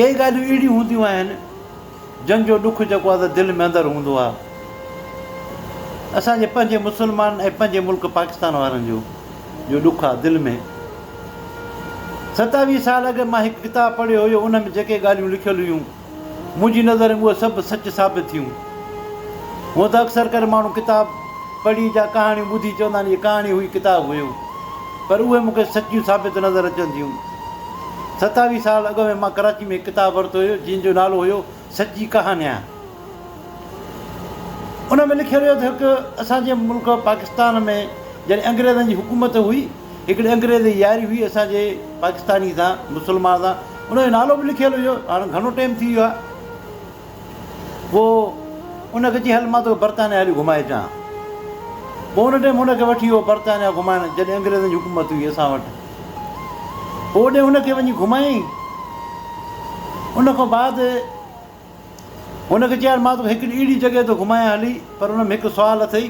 ڪي ڳالهيون اهڙيون هونديون آهن جن جو ڏک جيڪو آهي دل ۾ اندر هوندو آهي اسان جي پنهنجي مسلمان ۽ پنهنجي ملڪ پاڪستان وارن جو جو ڏک آهي دل ۾ ستاويهه سال اڳ مان هڪ ڪتاب پڙهيو هيو ان ۾ جيڪي ڳالهيون لکيل هيون منهنجي نظر ۾ اهي سڀ سچ ثابت ٿيون هون ته اڪثر ڪري ماڻهو ڪتاب پڙهي جا ڪهاڻيون ٻڌي چوندا آهن هي ڪهاڻي هئي ڪتاب هيو پر اهي مونکي سچيون ثابت نظر اچن ٿيون ستاويهه سال اڳ ۾ مان ڪراچي ۾ هڪ ڪتاب ورتو هيو جنهن جو نالو هيو سچي ڪهانيان. ان ۾ لکيل هيو ته هڪ اسان جي ملڪ پاڪستان ۾ جڏهن انگريزن جي حڪومت هئي هڪڙي انگريز جي ياري هئي اسان جي پاڪستاني سان مسلمان سان ان جو نالو به لکيل هيو هاڻ گهڻو ٽيم ٿي ويو آهي پوء ان کي چي هل مان توکي برطانيا هلي گهمائي اچان پوء ان ٽيم ان کي وٺي ويو برطانيا گهمائڻ جڏهن انگريزن جي حڪومت هئي اسان وٽ اوڏي هن کي وڃي گهمايائين. ان کان بعد هن کي چيائين مان توکي هڪڙي اهڙي جڳهه ٿو گهمايان هلي پر ان ۾ هڪ سوال اٿئي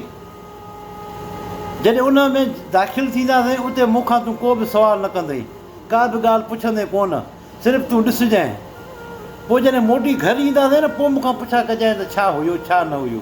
جڏهن ان ۾ داخل ٿينداسين اتي مون کان تون ڪو به سوال نه ڪندئي ڪا به ڳالهه پڇندين ڪونه صرف تون ڏسجانء پوء جڏهن موٽي گهر اينداسين نه پوء مون کان پڇا ڪجانء ته ڇا هيو ڇا نه هيو.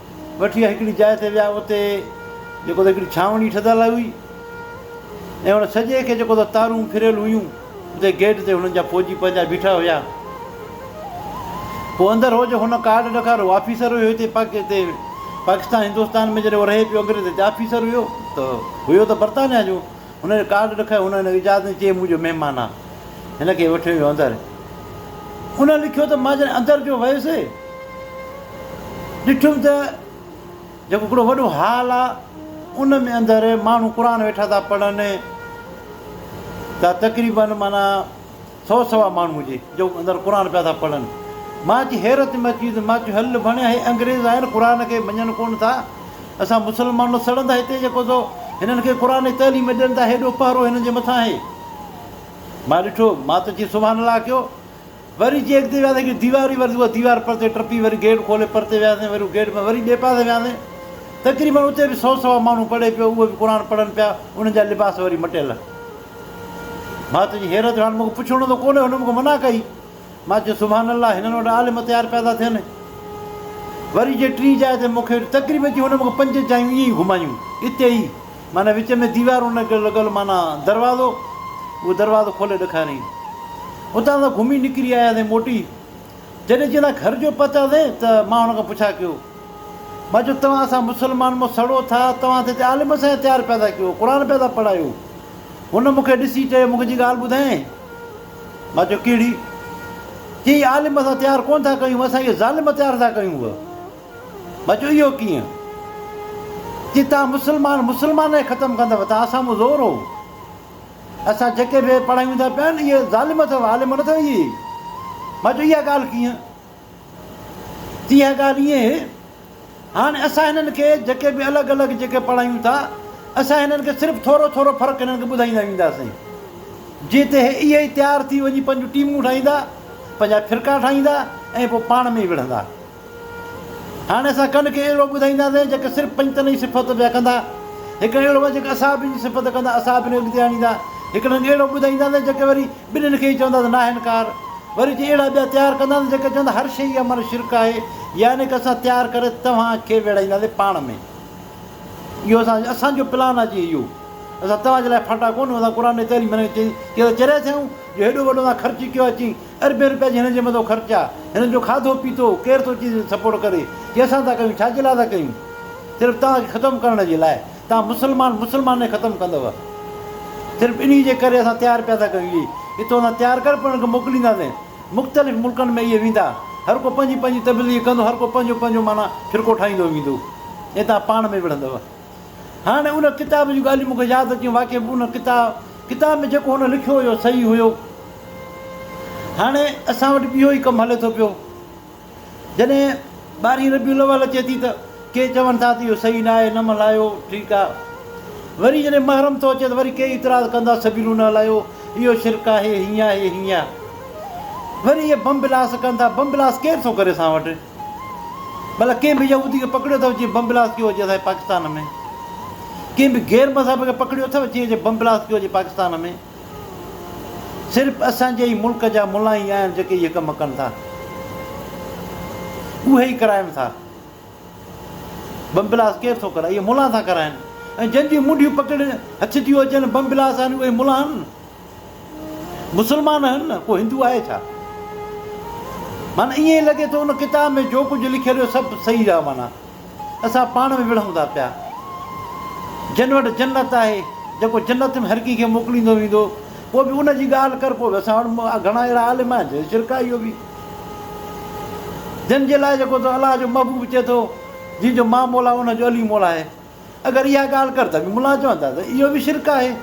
وٺي هڪڙي جاء تي ويا اتي جيڪو ته هڪڙي ڇانوڻي ٺھدل هئي ۽ ان ڇڄي کي جيڪو ته تارون ڦريل هيون اتي گيٽ تي هنن جا فوجي پنهنجا بيٺا هيا پوء اندر هو جو هن ڪارڊ ڏکار هو آفيسر هيو هتي پاڪتي پاڪستان هندوستان ۾ جڏهن هو رهي پيو انگريز هتي آفيسر هيو ته هيو ته برطانيا جو هن جو ڪارڊ ڏيکاريو، هن هن کي اجازت ڏني، چيائين مون جو مهمان آ، هن کي وٺي وڃو اندر. ان لکيو ته مان جڏهن اندر جو ويس، ڏٺم ته جيڪو هڪڙو وڏو هال آ، ان ۾ اندر ماڻهو قرآن ويٺا ٿا پڙهن، ته تقريبن معنيٰ، سو سوا ماڻهو جي جو اندر قرآن پيا ٿا پڙهن. مان اچي حيرت ۾ اچي ويس. مان چيو هل ڀڻيا هي انگريز آهن قرآن کي مڃن ڪونه ٿا. اسان مسلمان سڙندا هتي جيڪو سو هنن کي قرآن جي تعليم ڏين ٿا هيڏو پهرو هنن جي مٿان آهي. مان ڏٺو مان ته چي سبحان الله ڪيو. وري جي اڳتي وياسين هڪڙي ديوار هئي وري اها ديوار پرتي ٽپي وري گيٽ کولي پرتي وياسين وري گيٽ مان وري ٻئي پاسي وياسين تقريبن اتي به سو سوا ماڻهو پڙهي پيو اهي به قرآن پڙهن پيا انهن جا لباس وري مٽيل. ڀاء تنهنجي حيرت جو حال مون کي پڇڻو ته ڪونهي، هن مون کي منع ڪئي. مان چيو سبحان الله هنن وٽ عالم تيار پيا ٿا ٿين. وري جي ٽين جاء تي مون کي تقريب جي هن مون کي پنج جايون ائين ئي گهمايون اتي ئي معنيٰ وچ ۾ ديوارون نه لڳل معنيٰ دروازو اهو دروازو کولي ڏکاريائين. اتان اسان گهمي نڪري آياسين موٽي. جڏهن چيلا گهر جو پهتاسين ته مان هن کان پڇا ڪيو، ٻاجو توهان اسان مسلمان مون سڙو ٿا، توهان ته هتي عالم سائين تيار پيا ٿا ڪيو، قرآن پيا ٿا پڙهايو. هن مون کي ڏسي چيو، مون کي جي ڳالهه ٻڌائين؟ مان چيو، ڪهڙي؟ چيائين، عالم اسان تيار ڪونه ٿا ڪيون، اسان اهي ظالم تيار ٿا ڪيون. مان چيو، اهو ڪيئن؟ چيائين، توهان مسلمان مسلمان کي ختم ڪندؤ، توهان سامهون زور هو. اسان جيڪي به پڙهايون ٿا پيا اهي ظالم اٿو عالم نه ٿو اهي مان چيو اها ڳالهه ڪيئن تي اها ڳالهه ائين هي هاڻي اسان هنن کي جيڪي به الڳ الڳ جيڪي پڙهايون ٿا اسان هنن کي صرف ٿورو ٿورو فرق هنن کي ٻڌائيندا وينداسين جي تي هي اهي ئي تيار ٿي وڃي پنهنجون ٽيمون ٺاهيندا پنهنجا فرقا ٺاهيندا ۽ پوء پاڻ ۾ ئي وڙهندا هاڻي اسان ڪن کي اهڙو ٻڌائينداسين جيڪي صرف پنجتن جي صفت پيا ڪندا، هڪڙن اهڙو ڪندا جيڪي اصحابين جي صفت ڪندا، اصحابين کي اڳتي آڻيندا، هڪڙن کي اهڙو ٻڌائينداسين جيڪي وري ٻنهين کي ئي چوندا ته ناهن ڪار، وري چي اهڙا ٻيا تيار ڪنداسين جيڪي چوندا هر شيء جي عمل شرڪ آهي، يعني ڪه اسان تيار ڪري توهان کي ويڙهائينداسين پاڻ ۾، اهو اسان اسان جو پلان آهي جي اهو اسان توهان جي لاء ڦاٽا ڪونه اسان قرآن جي تعليم ڏني چي ته چريا ٿيون جو هيڏو وڏو اسان خرچ ڪيو آهي چي اربين روپيا جي هنن جي مٿو خرچ آ هنن جو کاڌو پيتو ڪير ٿو چي سپورٽ ڪري جي اسان ٿا ڪيون ڇاجي لاء ٿا ڪيون صرف توهان کي ختم ڪرڻ جي لاء توهان مسلمان مسلمان کي ختم ڪندو صرف انهي جي ڪري اسان تيار پيا ٿا ڪيون اهي اتو سان تيار ڪري پوء هنن کي موڪلينداسين مختلف ملڪن ۾ اهي ويندا هر ڪو پنهنجي پنهنجي تبليغ ڪندو هر ڪو پنهنجو پنهنجو معنيٰ فرقو ٺاهيندو ويندو ۽ توهان پاڻ ۾ وڙهندو. هاڻي ان ڪتاب جون ڳالهيون مون کي ياد اچيون واقعي به ان ڪتاب ۾ جيڪو هن لکيو هيو صحيح هيو. هاڻي اسان وٽ به اهو ئي ڪم هلي ٿو پيو. جڏهن ٻارهين ربيع الاول اچي ٿي ته ڪي چون ٿا ته اهو صحيح نه آهي، نه ملهايو، ٺيڪ آ. وري جڏهن محرم ٿو اچي ته وري ڪي اعتراض ڪندا سبيلون نه هلايو، اهو شرڪ آهي، هيئن آهي، هيئن آ. وري اهي بم بلاس ڪن ٿا، بم بلاس ڪير ٿو ڪري اسان وٽ؟ ڀلا ڪنهن به يهودي کي پڪڙيو اٿئو جنهن بم بلاسٽ ڪيو هجي اسانجي پاڪستان ۾؟ ڪنهن به غير مذهب کي پڪڙيو اٿئو جنهن جي بم بلاسٽ ڪيو هجي پاڪستان ۾؟ صرف اسانجي ئي ملڪ جا ملان ئي آهن جيڪي اهي ڪم ڪن ٿا. اهي ئي ڪرائين ٿا. بم بلاسٽ ڪير ٿو ڪرائي؟ اهي ملان ٿا ڪرائين ۽ جن جون منڊيون پڪڙيل هٿ جون هجن بم بلاسٽ آهن اهي ملان آهن. مسلمان آهن نه ڪو هندو آهي ڇا؟ معنيٰ ائين ئي لڳي ٿو ان ڪتاب ۾ جو ڪجهه لکيل هو سڀ صحيح رهيو معنيٰ اسان پاڻ ۾ وڙهون ٿا پيا جن وٽ جنت آهي جيڪو جنت ۾ هر ڪنهن کي موڪليندو ويندو پوء به ان جي ڳالهه ڪر پوء به اسان وٽ گهڻا اهڙا عالم آهن جن شرڪ آهي اهو به جن جي لاء جيڪو تو الله جو محبوب چئي ٿو جنهن جو مان مولا ان جو علي مولا آهي اگر اها ڳالهه ڪر ته ملان چون ٿا ته اهو به شرڪ آهي.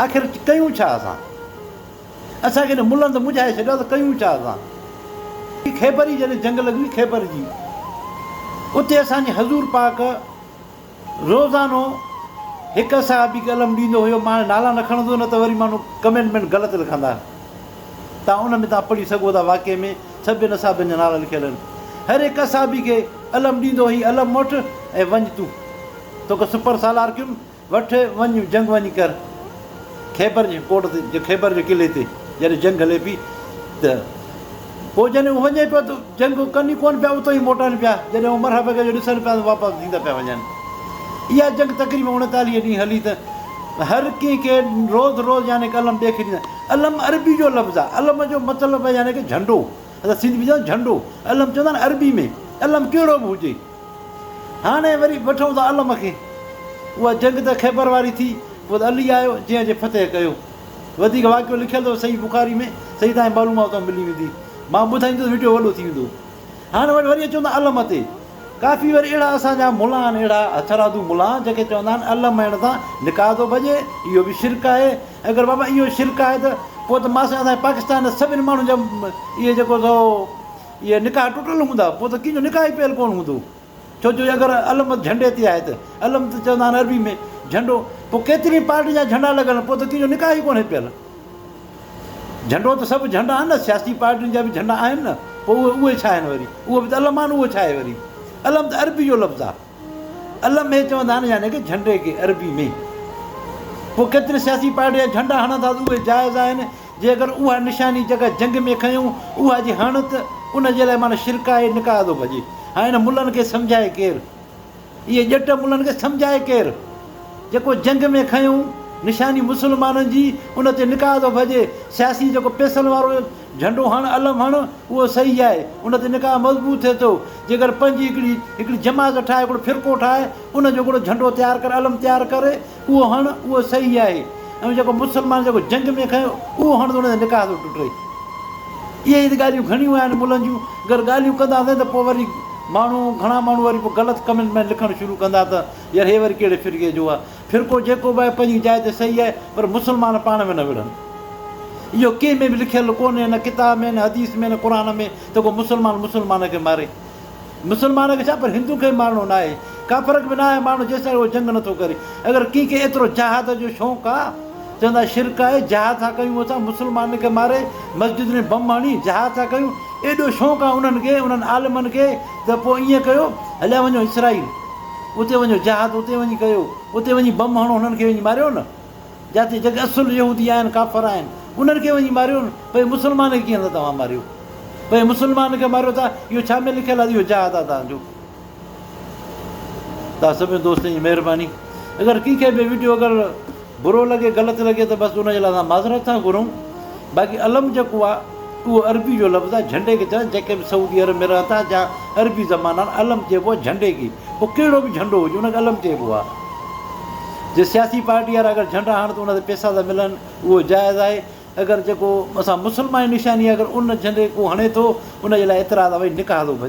آخر ڪيون ڇا اسان؟ اسان کي نه ملن ته مجهائي ڇڏيا ته ڪيون ڇا اسان؟ ٻي خيبر ئي جڏهن جنگ لڳي خيبر جي اتي اسان جي حضور پاڪ روزانو هڪ صحابي کي علم ڏيندو هيو مان هاڻي نالا نه کڻندس نه ته وري ماڻهو ڪمينٽ ۾ غلط لکندا تان ان ۾ تان پڙهي سگهو ٿا واقعي ۾ سڀين اصحابين جا نالا لکيل آهن. هر هڪ اصحابي کي علم ڏيندو هي علم موٽ ۽ وڃ تون توکي سپر سالار ڪيم وٺ وڃ جنگ وڃي ڪر خيبر جي ڪوٽ تي جي خيبر جي قلعي تي جڏهن جنگ هلي پي ته پوء جڏهن وڃي پيو ته جنگ ڪن ئي ڪون پيا اتو ئي موٽن پيا جڏهن عمر حبيب جو ڏسن پيا ته واپس ٿيندا پيا وڃن اها جنگ تقريبن اڻيتاليهه ڏينهن هلي ته هر ڪنهن کي روز روز يعني ڪلم ڏيکي ڏيندا علم عربي جو لفظ آ علم جو مطلب آ يعني ڪه جهنڊو اسان سنڌي ۾ چوندا جهنڊو علم چوندا آهن عربي ۾ علم ڪهڙو به هجي هاڻي وري وٺون ٿا علم کي اها جنگ ته خيبر واري ٿي پوء ته علي آيو جنهن جي فتح ڪيو وڌيڪ واقعو لکيل اٿو صحيح بخاري ۾ صحيح تهائين معلومات اتان ملي ويندي مان ٻڌائيندس وڊيو وڏو ٿي ويندو هن وٽ وري اچون ته علم تي ڪافي وري اهڙا اسان جا ملا آهن اهڙا هٿرادو ملا آهن جن کي چوندا آهن علم مهڻ سان نڪاح ٿو ڀڄي اهو به شرڪ آهي اگر بابا اهو شرڪ آهي ته پوء ته ماسي اسان جي پاڪستان جي سڀني ماڻهن جا اهي جيڪو سو اهي نڪاح ٽٽل هوندا پوء ته ڪنهن جو نڪاح ئي پيل ڪونه هوندو ڇو جو اگر علم جهنڊي تي آهي ته علم ته چوندا آهن عربي ۾ جهنڊو پوء ڪيترين پارٽين جا جهنڊا لڳل آهن پوء ته ڪنهن جو نڪاح ئي ڪونهي پيل. جهنڊو ته سڀ جهنڊا آهن نه، سياسي پارٽين جا به جهنڊا آهن نه، پوء اهي اهي ڇا آهن وري؟ اهو به ته علم آهن اهو ڇا آهي وري؟ علم ته عربي جو لفظ آهي علم هي چوندا آهن يعني ڪه جهنڊي کي عربي ۾. پوء ڪيترين سياسي پارٽين جا جهنڊا هڻن ٿا ته اهي جائز آهن، جي اگر اها نشاني جيڪا جنگ ۾ کنيون اها جي هڻ ته ان جي لاء معنيٰ شرڪ آهي نڪاح ٿو ڀڄي. هاڻي هن ملن کي سمجهائي ڪير؟ اهي ڄٽ ملن کي سمجهائي ڪير؟ جيڪو جنگ ۾ کنيون نشاني مسلمانن جي ان تي نڪاح ٿو ڀڄي. سياسي جيڪو پئسن وارو جهنڊو هڻ علم هڻ اهو صحيح آهي. ان تي نڪاح مضبوط ٿئي ٿو. جيڪر پنهنجي هڪڙي هڪڙي جماعت ٺاهه هڪڙو فرقو ٺاهه ان جو هڪڙو جهنڊو تيار ڪر علم تيار ڪر اهو هڻ اهو صحيح آهي ۽ جيڪو مسلمان جيڪو جنگ ۾ کنيو اهو هڻ ته ان سان نڪاح ٿو ٽٽي. اهي ئي ته ڳالهيون گهڻيون آهن ملن جون. اگر ڳالهيون ڪنداسين ته پوء وري ماڻهو گهڻا ماڻهو وري پوء غلط ڪمينٽ ۾ لکڻ شروع ڪندا ته يار هي وري ڪهڙي فرقي جو آهي. فرقو جيڪو به آهي پنهنجي جاء تي صحيح آهي پر مسلمان پاڻ ۾ نه وڙهن. اهو ڪنهن ۾ به لکيل ڪونهي نه ڪتاب ۾ نه حديث ۾ نه قرآن ۾ ته ڪو مسلمان مسلمان کي ماري. مسلمان کي ڇا پر هندو کي به مارڻو ناهي. ڪا فرق به ناهي ماڻهو جيستائين اهو جنگ نٿو ڪري. اگر ڪنهن کي ايترو جهاد جو شوق آ چوندا شرڪ آهي جهاد ٿا ڪيون اسان مسلمانن کي ماري مسجدن ۾ بم هڻي جهاد ٿا ڪيون ايڏو شوق آ انهن کي انهن عالمن کي ته پوء ائين ڪيو هليا وڃو اسرائيل اتي وڃو جهاد اتي وڃي ڪيو اتي وڃي بم هڻو هنن کي وڃي ماريو نه. جاتي جيڪي اصل يهودي آهن ڪافر آهن انهن کي وڃي ماريو نه پئي مسلمان کي ڪيئن ٿا توهان ماريو پئي مسلمان کي ماريو ٿا اهو ڇا ۾ لکيل آهي اهو جهاد آهي توهان جو توهان سڀني دوستن جي مهرباني اگر ڪنهن کي به ويڊيو اگر برو لڳي غلط لڳي ته بس ان جي لاء اسان معذرت ٿا گهرون باقي علم جيڪو آ اهو عربي جو لفظ آ جهنڊي کي چونداسين جيڪي به سعودي عرب ۾ رهن ٿا جا عربي زبان آهن علم چئبو آ جهنڊي کي پوء ڪهڙو به جهنڊو هجي ان کي علم چئبو آ جي سياسي پارٽي وارا اگر جهنڊا هڻن ته ان تي پئسا ٿا ملن اهو جائز آهي اگر جيڪو اسان مسلمان نشاني آ اگر ان جهنڊي کي ڪو هڻي ٿو ان جي لاء اعتراض آ ڀئي نڪاح ٿو ڀڄي.